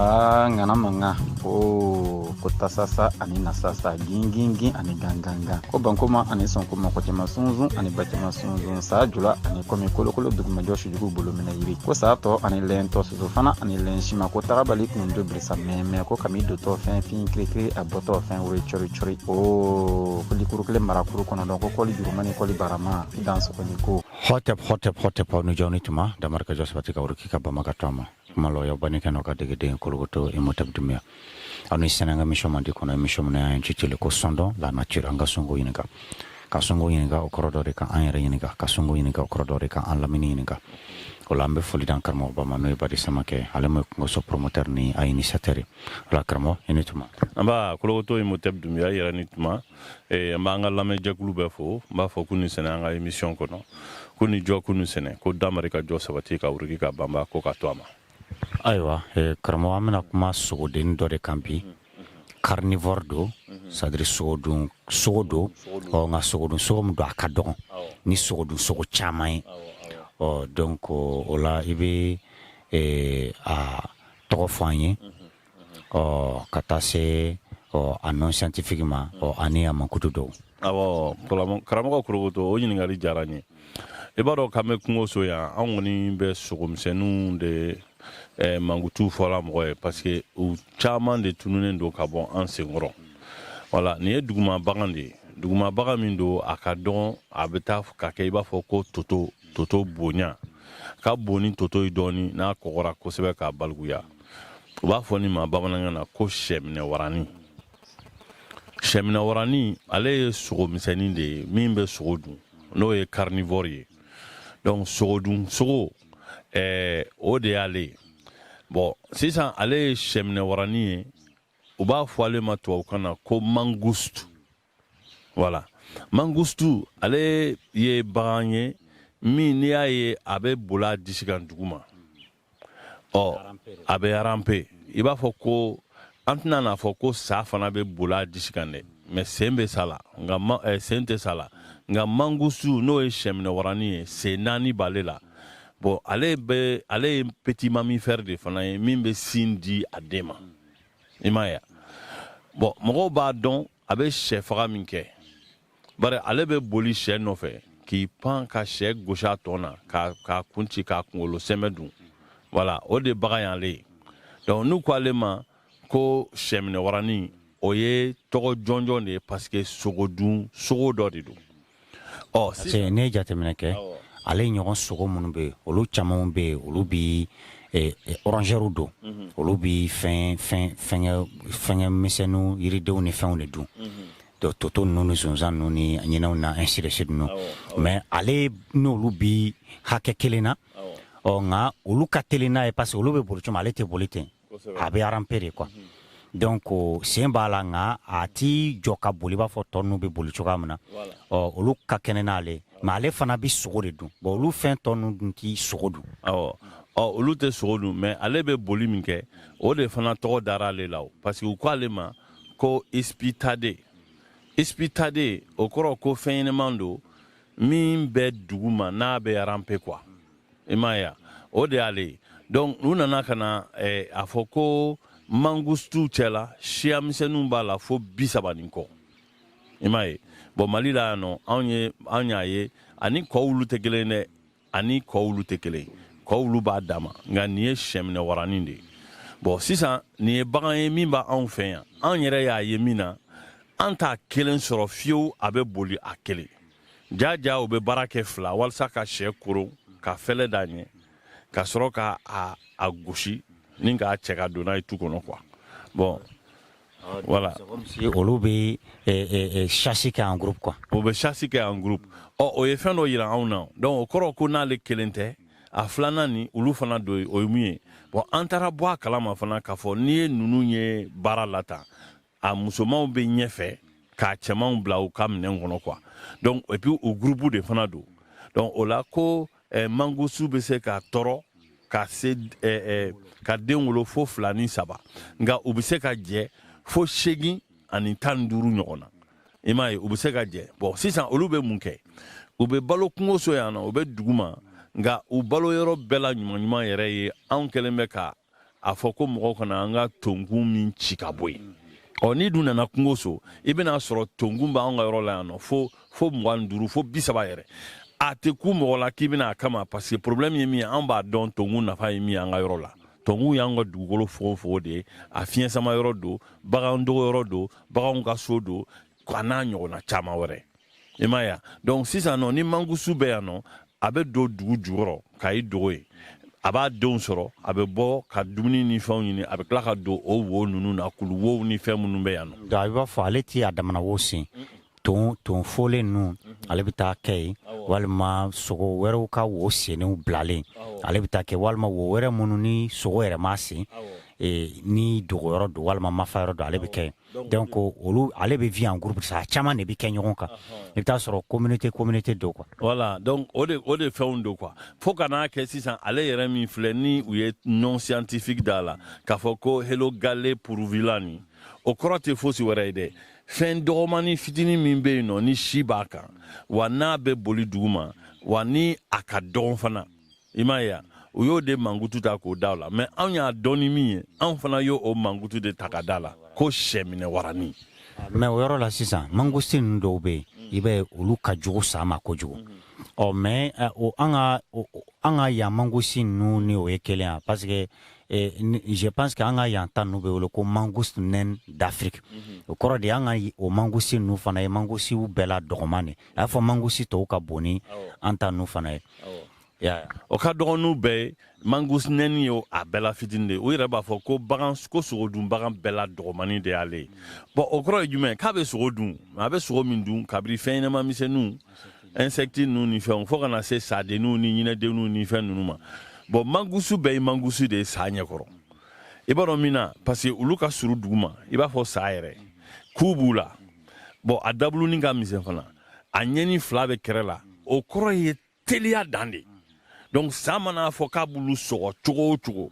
aa ŋana mankan ko ko tasasa ani nasasa gingingin ani gangangan ko bankoma ani sɔnko mɔgɔ caman sunsun ani ba caman sunsun saa jula ani kɔmi kolokolo dugumajɔ sujugu bolo minɛ yiri ko saa tɔ ani lɛn tɔ soso fana ani lɛn sima ko tagabali kun do birisa mɛmɛ ko kami dontɔ fɛn fin kirikiri a bɔtɔ fɛn woro cɔri cɔri o ko likuru kelen marakuru kɔnɔ dɔn ko kɔli jurumani kɔli barama dan sɔgɔni ko Hotep, hotep, hotep, aw ni jɔ ni tuma damari ka jɔ sabati ka wuruki ka banba ka to a ma kuma lɔ y'aw bani kɛnɛ ka degeden kologoto imotep dumiya aw ni sɛnɛ ka émission mandi kɔnɔ émission min y'an citili ko sɔndɔn la nature an ka sonko ɲininka ka sonko ɲininka o kɔrɔ dɔ de kan an yɛrɛ ɲininka ka sonko ɲininka o kɔrɔ dɔ de kan an lamini ɲininka o la an bɛ foli dan karamɔgɔba ma n'o ye badi samakɛ ale mo ye kungoso promoteur ni a initiateur ye o la karamɔgɔ i ni tuma nba kologoto imotep dumiya yɛrɛ ni tuma ee, an b'an ka lamɛnjɛkulu bɛɛ fo n b'a fɔ k'u ni sɛnɛ an ka emisiyɔn kɔnɔ k'u ni jɔ k'u ni sɛnɛ ko damari ka jɔ sabati ka wuruki ka banba ko ka to a ma ayiwa ee, karamɔgɔ an bɛna kuma sogodenni dɔ de kan bi carnivore don c'est-à-dire sogodun sogo don ɔ nka sogodun sogo min don a ka dɔgɔn ni sogodun sogo caman ye ɔ donc o la i bɛ ee, a tɔgɔ fɔ an ye ɔ ka taa se ɔ a nom scientifique ma ɔ ani a mankutu dɔw awɔ karamɔgɔ korokoto o ɲininkali diyara n ye i b'a dɔn k'an bɛ kungoso yan an kɔni bɛ sogomisɛnninw de eh, mankutu fɔla mɔgɔ ye parce que u caman de tununen don ka bɔ an senkɔrɔ wala nin ye duguma bagan de ye duguma bagan min don a ka dɔgɔn a bɛ taa ka kɛ i b'a fɔ ko toto toto bonya ka bon ni toto ye dɔɔni n'a kɔgɔra kosɛbɛ ka balikuya u b'a fɔ nin ma bamanankan na ko sɛminɛ waranin sɛminɛ waranin ale ye sogo misɛnnin de ye min bɛ sogo dun n'o ye carnivore ye donc sogo dun sogo ɛɛ o de y'ale ye bɔn sisan ale ye sɛminɛ waranin ye u b'a fɔ ale ma tubabukan na ko mangouste Wala mangouste ale ye bagan ye min n'i y'a ye a bɛ bol'a disi kan duguma ɔ a bɛ ramper i b'a fɔ ko an tɛna n'a fɔ ko sa fana bɛ bol'a disi kan dɛ mais sen bɛ sa la nka eh, sen tɛ sa la nka mangouste n'o ye sɛminɛ waranin ye sen naani b'ale la bɔn ale bɛ ale ye petit mammifère de fana ye min bɛ sin di a den ma i m'a ye bɔn mɔgɔw b'a dɔn a bɛ sɛ faga min kɛ bari ale bɛ boli sɛ nɔfɛ k'i pan ka sɛ gosi a tɔn na k'a kun ci k'a kunkolo sɛmɛ dun wala o de bagan y'ale ye donc n'u ko ale ma ko sɛminɛwaranin o ye tɔgɔ jɔnjɔn de ye parce que sogodun sogo dɔ de don Ɔ ne ye jateminɛ kɛ ale ɲɔgɔn sogo minnu bɛ yen olu caman bɛ yen olu bɛɛ rongeurw don olu bɛ fɛn misɛnw yiridenw ni fɛnw de dun toto ninnu ni sonsan ninnu ni ɲinɛw na ainsi de suite dun mɛ ale n'olu bɛ hakɛ kelen na ɔ nka olu ka teli n'a ye parce que olu bɛ boli ale tɛ boli ten a bɛ ramper de kuwa donc sen b'a la nka a t'i jɔ ka boli b'a fɔ tɔ ninnu bɛ boli cogoya min na ɔ olu ka kɛnɛ n'ale mɛ ale fana bɛ sogo de dun bon olu fɛn tɔ ninnu dun ti sogo dun ɔ olu tɛ sogo dun mɛ ale bɛ boli min kɛ o de fana tɔgɔ dara ale la parce que u ko ale ma ko ipitade ipitade o kɔrɔ ko fɛn ɲɛnaman don min bɛ dugu ma n'a bɛ ramper kuwa i m'a ye o de y'ale ye donc u nana ka na eh, a fɔ ko mangustuw cɛla siya misɛnninw b'a la fo bi saba ni kɔ i m'a ye bɔn mali la yan nɔ anw ye anw y'a ye ani kɔwulu tɛ kelen dɛ ani kɔwulu tɛ kelen kɔwulu b'a dama nka nin ye syɛminɛ waranin de ye bɔn sisan nin ye bagan ye min b'anw fɛ yan anw yɛrɛ y'a ye min na an t'a kelen sɔrɔ fiyewu a bɛ boli a kelen ja ja u bɛ baara kɛ fila walasa ka syɛ koron ka fɛlɛ d'a ɲɛ ka sɔrɔ ka a, a gosi ni k'a cɛ ka don n'a ye tu kɔnɔ kuwa bɔn voilà olu bɛ sasi kɛ en groupe kuwa o bɛ sasi kɛ en groupe ɔ o ye fɛn dɔ yira anw na donc o kɔrɔ ko n'ale kelen tɛ a filanan ni olu fana don o ye mun ye bɔn an taara bɔ a kalama fana k'a fɔ n'i ye ninnu ye baara la tan a musomanw bɛ ɲɛfɛ k'a cɛmanw bila u ka minɛn kɔnɔ kuwa donc et puis u gurupu de fana don donc o la ko eh, mangusu bɛ se ka tɔrɔ ka se eh, eh, ka den wolo fo fila ni saba nka u bɛ se ka jɛ fo seegin ani tan ni duuru ɲɔgɔn na i m'a ye u bɛ se ka jɛ bɔn sisan olu bɛ mun kɛ u bɛ balo kungo so yan nɔ u bɛ dugu ma nka u balo yɔrɔ bɛɛ la ɲuman ɲuman yɛrɛ ye anw kɛlen bɛ ka a fɔ ko mɔgɔw kana an ka tonkun min ci ka bɔ yen ɔ n'i dun nana kungo so i bɛna a sɔrɔ tonkun b'an ka yɔrɔ la yan nɔ fo fo mugan ni duuru fo bi saba yɛrɛ a tɛ kun mɔgɔ la k'i bɛna a kama parce que problème ye min ye an b'a dɔn tonkun nafa ye min ye an ka yɔrɔ la tonkunw y'an ka dugukolo fogofogo de ye a fiɲɛ sama yɔrɔ don bagan dogo yɔrɔ don baganw ka so don a n'a ɲɔgɔnna caman wɛrɛ i m'a ye donc sisan nɔ ni mangusu bɛ yan nɔ a bɛ don dugu jukɔrɔ ka i dogo yen a b'a denw sɔrɔ a bɛ bɔ ka dumuni ni fɛnw ɲini a bɛ tila ka don o wo ninnu na kulu wow ni fɛn minnu bɛ yan nɔ i b'a fɔ ale ti a damana wo sen ton ton folen ninnu mhm. ale bɛ taa kɛ yen walima sogo wɛrɛw ka wo sennenw bilalen ale bɛ taa kɛ walima wo wɛrɛ minnu ni sogo yɛrɛ m'a sen ni dogoyɔrɔ don walima mafa yɔrɔ don ale bɛ kɛ yen donc olu ale bɛ vi en groupe sa caman de bɛ kɛ ɲɔgɔn kan i bɛ taa sɔrɔ communauté communauté don kuwa wala donc o de fɛnw don kuwa fo ka n'a kɛ sisan ale yɛrɛ min filɛ ni u ye nom scientifique da a la k'a fɔ ko helogale parvula nin o kɔrɔ tɛ fosi wɛrɛ ye dɛ fɛn dɔgɔmani fitinin min bɛ yen nɔ ni si b'a kan wa n'a bɛ boli duguma wa ni a ka dɔgɔn fana i m'a ye u y'o de mankutu ta k'o da a la mɛ anw y'a dɔn ni min ye anw fana y'o o mankutu de ta k'a da a la ko saminɛ warani mɛ o yɔrɔ la sisan mangosi ninnu dɔw bɛ yen i b'a ye olu ka jugu sa ma kojugu ɔ mɛ eh, o an ka an ka yan mangosi ninnu ni o ye kelenya parce que eh, je pense que an ka yan ta ninnu bɛ wele ko mangouste naine d'afrique mhm. o kɔrɔ de an ka o mangosi ninnu fana ye mangosiw bɛɛ la dɔgɔman de a y'a fɔ mangusi tɔw ka bon ni an ta nu fana ye o ka dɔgɔn ni u bɛɛ ye mangouste naine ye a bɛɛ la fitini de ye u yɛrɛ b'a fɔ ko bagan ko sogodun bagan bɛɛ la dɔgɔmani de y'ale ye bɔn o kɔrɔ ye jumɛn k'a bɛ sogo dun a bɛ sogo min dun kabiri fɛn ɲɛnama misɛnninw insɛkiti ninnu ni fɛnw fo ka na se sadenninw ni ɲinɛdenninw ni fɛn ninnu ma bɔn mangusu bɛɛ ye mangusu de ye sa ɲɛkɔrɔ i b'a dɔn min na parce que olu ka suru duguma i b'a fɔ sa yɛrɛ ku b'u la bɔn a dabuluni ka misɛn fana a ɲɛni fila bɛ kɛrɛ la o kɔrɔ ye teliya dan de donc sa mana fɔ k'a b'olu sɔgɔ cogo o cogo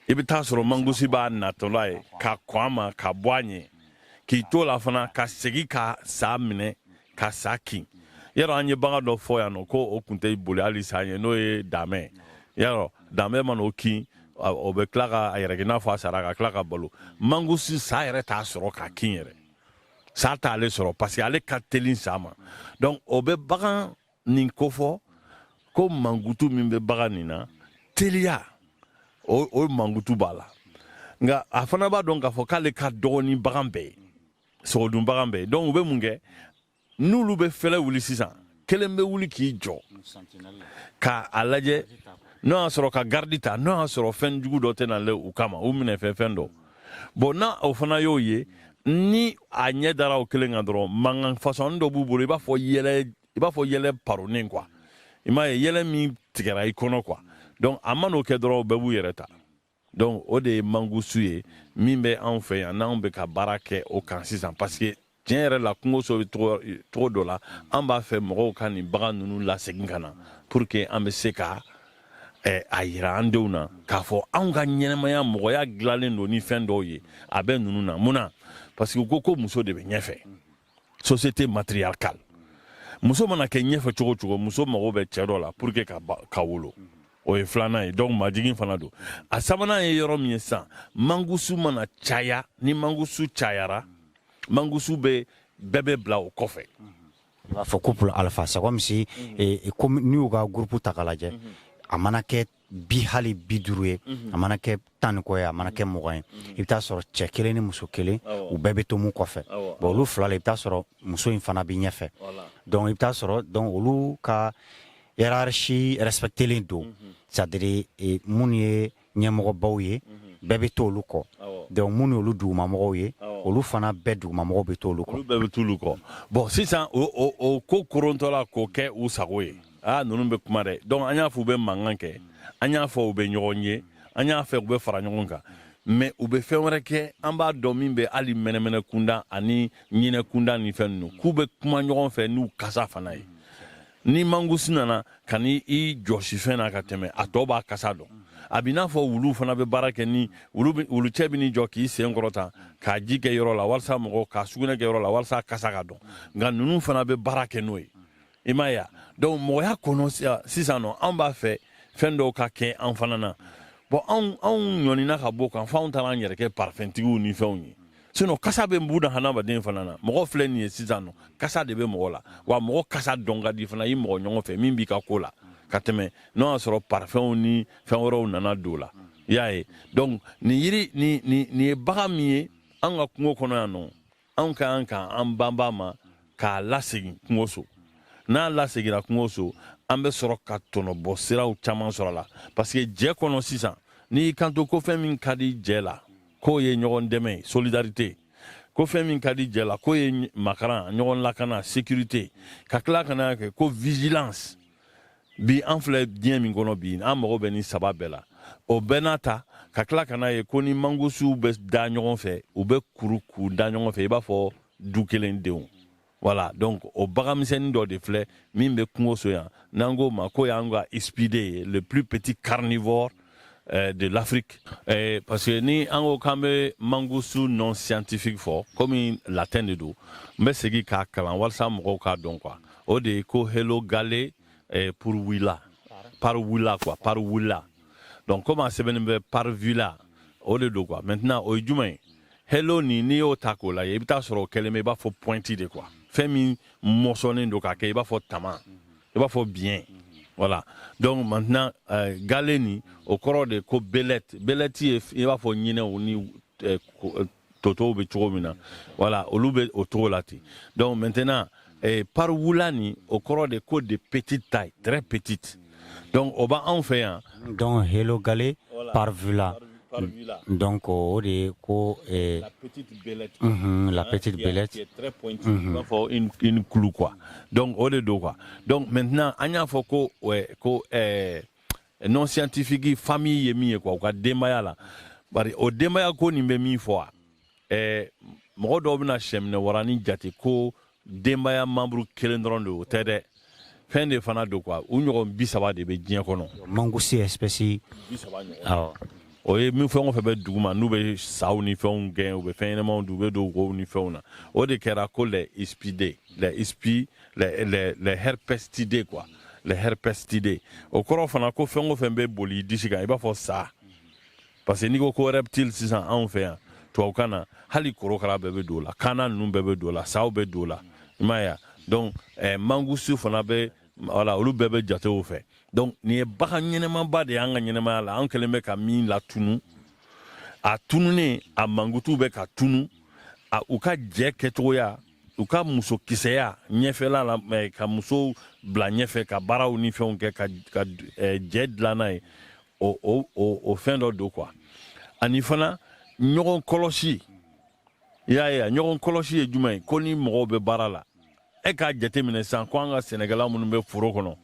i bɛ taa sɔrɔ mangosi b'a natɔla ye ka kɔn a ma ka bɔ a ɲɛ k'i to la fana ka segin ka sa minɛ ka sa kin yɔrɔ an ye bagan dɔ fɔ yan nɔ ko o kun tɛ boli hali sa ye n'o ye damɛ yɔrɔ damɛ mana o kin o bɛ tila ka a yɛrɛ n'a fɔ a sara ka tila ka balo mangosi sa yɛrɛ t'a sɔrɔ k'a kin yɛrɛ sa t'ale sɔrɔ parce que ale ka teli sa ma donc o bɛ bagan nin kofɔ ko mankutu min bɛ bagan nin na teliya o o mankutu b'a la nka a fana b'a dɔn k'a fɔ k'ale ka dɔgɔn ni bagan bɛɛ ye sogodun bagan bɛɛ ye donc u bɛ mun kɛ n'olu bɛ fɛlɛ wuli sisan kelen bɛ wuli k'i jɔ ka a lajɛ n'o y'a sɔrɔ ka garidi ta n'o y'a sɔrɔ fɛn jugu dɔ tɛna le u kama u minɛ fɛ fɛn dɔ bɔn n'o fana y'o ye ni a ɲɛ dara o kelen kan dɔrɔn mankan fasɔni dɔ b'u bolo i b'a fɔ yɛlɛ i b'a fɔ yɛlɛ paronnen kuwa i m'a ye yɛlɛ min tigɛra i kɔnɔ kuwa donc a man'o kɛ dɔrɔn bɛɛ b'u yɛrɛ ta donc o de ye mangusu ye min bɛ anw fɛ yan n'anw bɛ ka baara kɛ o kan sisan parce que tiɲɛ yɛrɛ la kungo so bɛ cogo dɔ la an b'a fɛ mɔgɔw ka nin bagan ninnu lasegin ka na pour que an bɛ se ka eh, a yira an denw na k'a fɔ anw ka ɲɛnamaya mɔgɔya dilannen don ni fɛn dɔw ye a bɛ ninnu na mun na parce que u ko ko muso de bɛ ɲɛfɛ société matriarcale muso mana kɛ ɲɛfɛ cogo cogo muso mago bɛ cɛ dɔ la pour que ka, ka wolo o ye filanan ye donc majigin fana don a sabanan ye yɔrɔ min ye sisan mangusu mana caya ni mangusu cayara mangusu bɛ bɛɛ bɛ bila o kɔfɛ i b'a fɔ couple alpha c'est comme si eh, comme n'i y'u ka groupe ta k'a lajɛ a mana kɛ bi hali bi duuru ye mhm. a mana kɛ tan ni kɔ ye a mana kɛ mugan ye mhm. i bɛ t'a sɔrɔ cɛ kelen ni muso kelen u bɛɛ bɛ to mun kɔfɛ bon olu fila la i bɛ t'a sɔrɔ muso in fana bɛ ɲɛfɛ donc i bɛ t'a sɔrɔ donc olu ka hiérarchie respectelen don mhm. c'est à dire e, minnu ye ɲɛmɔgɔbaw ye bɛɛ bɛ to olu kɔ donc minnu y'olu dugumamɔgɔw ye olu fana bɛɛ dugumamɔgɔw bɛ to olu kɔ olu bɛɛ bɛ t'olu kɔ bon sisan o ko korontɔla k'o kɛ u sago ye aa ah, ninnu bɛ kuma dɛ donc an y'a fɔ u bɛ mankan kɛ an y'a fɔ u bɛ ɲɔgɔn ye an y'a fɔ u bɛ fara ɲɔgɔn kan mais u bɛ fɛn wɛrɛ kɛ an b'a dɔn min bɛ hali mɛnɛmɛnɛ kunda ani ɲinɛ kunda ni fɛn ninnu k'u bɛ kuma ɲɔgɔn fɛ n'u kasa fana ye ni mangusu nana ka n'i jɔsi fɛn na ka tɛmɛ a tɔ b'a kasa dɔn a b'i n'a fɔ wulu fana bɛ baara kɛ ni wulu cɛ bɛ n'i jɔ k'i sen kɔrɔta k'a ji kɛ yɔrɔ la walasa mɔgɔ k'a sugunɛ kɛ yɔrɔ la walasa kasa ka dɔn nka ninnu fana bɛ baara kɛ n'o ye i m'a ye donc mɔgɔya kɔnɔ sisan nɔ an b'a fɛ fɛn dɔw ka kɛ an fana na bon anw anw ɲɔnina ka b'o kan fo anw taara an yɛrɛ kɛ parfɛntigiw ni fɛnw ye sinon kasa bɛ buna hadamaden fana na mɔgɔ filɛ nin ye sisan nɔ kasa de bɛ mɔgɔ la wa mɔgɔ kasa dɔn ka di fana i mɔgɔ ɲɔgɔn fɛ min b'i ka ko la ka tɛmɛ n'o y'a sɔrɔ parfɛnw ni fɛn wɛrɛw nana don la i y'a ye donc nin yiri nin ye bagan min ye an ka kungo kɔnɔ yan nɔ anw ka kan ka an banba ma k'a lasegin kungoso n'a lasegira kungoso an bɛ sɔrɔ ka tɔnɔbɔ siraw caman sɔrɔ a la parce que jɛ kɔnɔ sisan n'i y'i kanto ko fɛn min ka di jɛ la k'o ye ɲɔgɔn dɛmɛ solidarité ko fɛn min ka di jɛ la k'o ye makaran ɲɔgɔn lakana sécurité ka tila ka n'a kɛ ko vigilance bi an filɛ diɲɛ min kɔnɔ bi an mago bɛ nin saba bɛɛ la o bɛɛ n'a ta ka tila ka n'a ye ko ni mangusuw bɛ da ɲɔgɔn fɛ u bɛ kuru k'u da ɲɔgɔn fɛ i b'a fɔ du kelen denw voilà donc o baganmisɛnnin dɔ de filɛ min bɛ kungoso yan n'an k'o ma k'o y'an ka ispide ye le plus petit carnivore Eh, de l'Afrique eh, parce que ni an ko k'an bɛ mangusu nom scientifique fɔ komi latin de don n bɛ segin k'a kalan walasa mɔgɔw k'a dɔn quoi o de ye ko Helogale eh, parvula parvula quoi parvula donc komi a sɛbɛnnen bɛ parvula o de don quoi maintenant o ye jumɛn ye helo ni n'i y'o ta k'o lajɛ i bɛ t'a sɔrɔ o kɛlen bɛ i b'a fɔ pointu de quoi fɛn min mɔsɔnnen don k'a kɛ i b'a fɔ tama i b'a fɔ biɲɛ voilà donc maintenant euh, gale nin o kɔrɔ de ko belette belette ye i b'a fɔ ɲinɛw ni euh, euh, totow bɛ cogo min na voilà olu bɛ o cogo la ten donc maintenant eh, parvula nin o kɔrɔ de ko de petite taille très petite donc o b'anw fɛ yan donc helogale voilà. parvula Donc o de ye ko ɛɛ la petite belette unhun la petite belette qui est très pointue unhun i b'a fɔ une une clou quoi donc o de don quoi donc maintenant an y'a fɔ ko ouais, ko ɛɛ nom scientifique famille ye min ye quoi u ka denbaya la bari o denbaya ko nin bɛ min fɔ a ɛɛ mɔgɔ dɔw bɛna sɛminɛ waranin jate ko denbaya membre kelen dɔrɔn de o tɛ dɛ fɛn de fana don quoi u ɲɔgɔn bi saba de bɛ diɲɛ kɔnɔ mangouste espèce awɔ o ye min fɛn o fɛn bɛ dugu ma n'u bɛ saw ni fɛnw gɛn u bɛ fɛn ɲɛnamaw dun u bɛ don wow ni fɛnw na o de kɛra ko les ispide les ispi les les les herpestidés quoi les herpestidés o kɔrɔ fana ko fɛn o fɛn bɛ boli disi kan i b'a fɔ sa parce que n'i ko ko reptile sisan anw fɛ yan tubabukan na hali korokara bɛɛ bɛ don o la kaana ninnu bɛɛ bɛ don o la saw bɛ don o la i m'a ye donc eh, mangouste fana bɛ voilà olu bɛɛ bɛ jate o fɛ donc nin ye bagan ɲɛnamaba de y'an ka ɲɛnamaya la an kɛlen bɛ ka min latunu a tununen a mankutu bɛ ka tunu a u ka jɛ kɛcogoya u ka muso kisɛya ɲɛfɛla la eh, ka musow bila ɲɛfɛ ka baaraw ni fɛnw kɛ ka, ka eh, jɛ dilanna ye o fɛn dɔ don quoi ani fana ɲɔgɔn kɔlɔsi i y'a ye a ɲɔgɔn kɔlɔsi ye jumɛn ye ko ni mɔgɔw bɛ baara la e k'a jateminɛ sanko an ka sɛnɛkɛla minnu bɛ foro kɔnɔ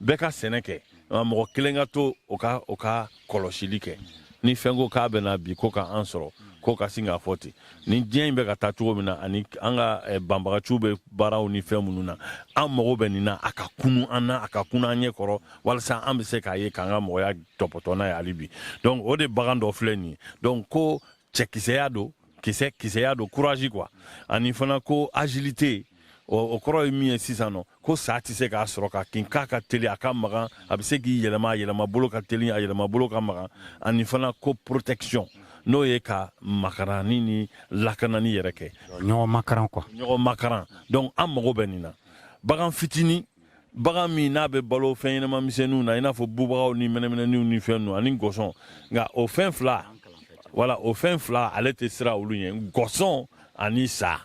bɛɛ ka sɛnɛ kɛ mɔgɔ kelen ka to o ka o ka kɔlɔsili kɛ ni fɛn ko k'a bɛna bi ko ka an sɔrɔ k'o ka sin k'a fɔ ten ni diɲɛ in bɛ ka taa cogo min na ani an ka eh, banbagaciw bɛ baaraw ni fɛn minnu na an mago bɛ nin na a ka kunu an na a ka kunu an ɲɛ kɔrɔ walasa an bɛ se k'a ye k'an ka mɔgɔya tɔpɔtɔ n'a ye hali bi donc o de bagan dɔ filɛ nin ye donc ko cɛkisɛya don kisɛ kisɛya don courage quoi ani fana ko agilité o kɔrɔ ye min ye sisan nɔ ko sa tɛ se k'a sɔrɔ k'a kin k'a ka teli a ka magan a bɛ se k'i yɛlɛma a yɛlɛma bolo ka teli a yɛlɛma bolo ka magan ani fana ko protection n'o ye ka makaranni ni lakanani yɛrɛ kɛ ɲɔgɔn makaran quoi ɲɔgɔn makaran donc an mago bɛ nin na bagan fitini bagan min n'a bɛ balo fɛn ɲɛnama misɛnninw na i n'a fɔ bubagaw ni mɛnɛmɛnɛniw ni fɛn ninnu ani gɔsɔn nka o fɛn fila voilà o fɛn fila ale tɛ siran olu ɲɛ gɔsɔn ani sa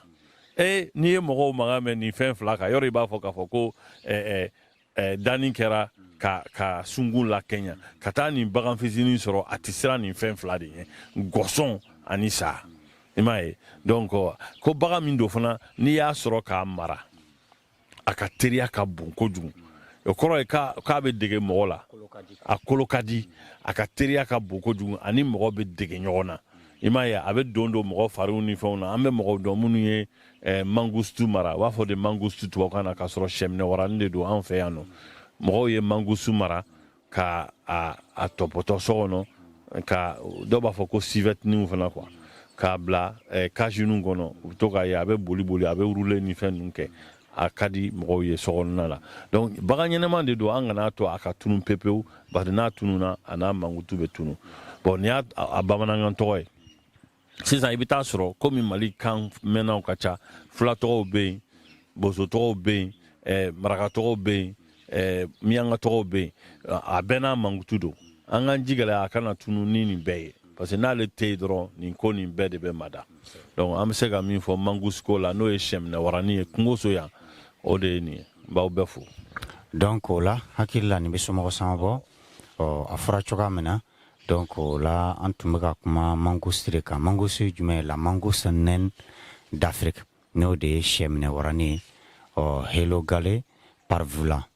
e n'i ye mɔgɔw mankan mɛn nin fɛn fila kan yɔrɔ i b'a fɔ k'a fɔ ko danni kɛra ka ka sungun lakɛɲa ka taa nin bagan fitinin sɔrɔ a tɛ siran nin fɛn fila de ɲɛ gɔsɔn ani sa i m'a ye donc ko bagan min don fana n'i y'a sɔrɔ k'a mara a ka teriya ka bon kojugu o kɔrɔ ye k'a bɛ dege mɔgɔ la a kolo ka di a ka teriya ka bon kojugu ani mɔgɔ bɛ dege ɲɔgɔn na i m'a ye a bɛ don don mɔgɔ fariw ni fɛnw na an bɛ mɔgɔw dɔn minnu ye eh, mangouste mara u b'a fɔ de mangouste tubabukan na k'a sɔrɔ sɛminɛ waranin de don an fɛ yan nɔ mɔgɔw ye mangouste mara ka a, a tɔpɔtɔ so kɔnɔ ka dɔw b'a fɔ ko sivɛtiniw fana quoi k'a bila eh, kasiniw kɔnɔ u bɛ to k'a ye a bɛ boli boli a bɛ wurule ni fɛn ninnu kɛ a ka di mɔgɔw ye sokɔnɔna la donc bagan ɲɛnama de don an kana to a ka tunu pepewu bari n'a tununa a n'a mankutu bɛ tunu bon nin y'a bamanankan tɔgɔ ye sisan i bɛ taa sɔrɔ komi mali kan mɛnnaw ka ca fulatɔgɔw bɛ yen bosotɔgɔw bɛ yen eh, marakatɔgɔw bɛ yen eh, miyankatɔgɔw bɛ yen a bɛɛ n'a mankutu don an k'an ji gɛlɛya a kana tunu ni nin bɛɛ ye parce que n'ale tɛ yen dɔrɔn nin ko nin bɛɛ de bɛ mada donc an bɛ se ka min fɔ mangouste ko la n'o ye sɛminɛ waranin ye kungoso yan o de ye nin ye n b'aw bɛɛ fo donc o la hakili la nin bɛ somɔgɔ sama bɔ a fɔra cogoya min na Don ko la an tun bɛ ka kuma mango siri ka mango su jumɛn ye la mango san dafe n'o de ye sɛminɛ warain ye ɔ hgale pafila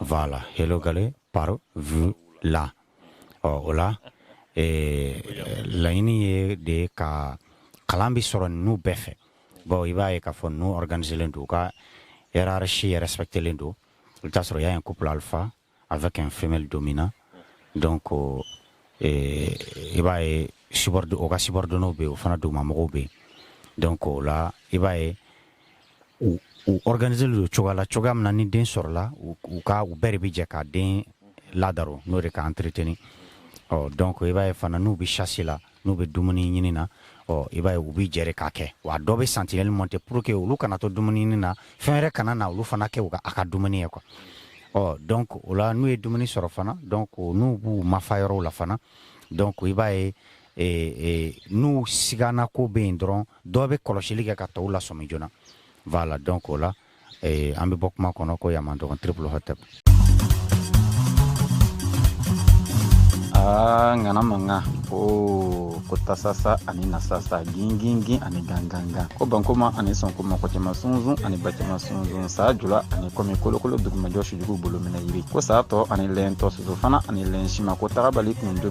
fa la hgale pa v la ɔ o la laɲini ye de ye ka kalan bɛ sɔrɔ n'u bɛɛ fɛ baw i b'a ye k'a fɔ n'u ganzelen don u ka si yɛrɛ saba kelen don u'a sɔrɔ y'a ye kopp alifa Avec une femelle dominante donc i b'a ye u ka subordonnéw bɛ yen u fana dugumamɔgɔw bɛ yen donc o la i b'a ye u organisélen don cogoya la cogoya min na ni den sɔrɔla u ka u bɛɛ de bɛ jɛ ka den ladon n'o de k'a entretenir ɔ donc i b'a ye fana n'u bɛ chasse la n'u bɛ dumuni ɲini na ɔ i b'a ye u bɛ jɛrɛ k'a kɛ wa dɔ bɛ sentinelle monter pour que olu kana to dumuni ɲini na fɛn wɛrɛ kana na olu fana kɛ u ka a ka dumuni ye quoi ɔ donc o la n'u ye dumuni sɔrɔ fana donc n'u b'u mafa yɔrɔw la fana donc i b'a ye e, e, n'u sigana ko bɛ yen dɔrɔn dɔ bɛ kɔlɔsili kɛ ka tɔw lasɔmi joona voilà donc o la ee an bɛ bɔ kuma kɔnɔ ko yan man dɔgɔn triple hotel aa ŋana mankan ko ko tasasa ani nasasa gingingin ani gangangan ko bankoma ani sɔnkoma kɔcɛma sunsun ani bacɛma sunsun saa jula ani kɔmi kolokolo dugumajɔ sujugu bolo minɛ yiri ko saa tɔ ani lɛn tɔ soso fana ani lɛn sima ko tagabali kun do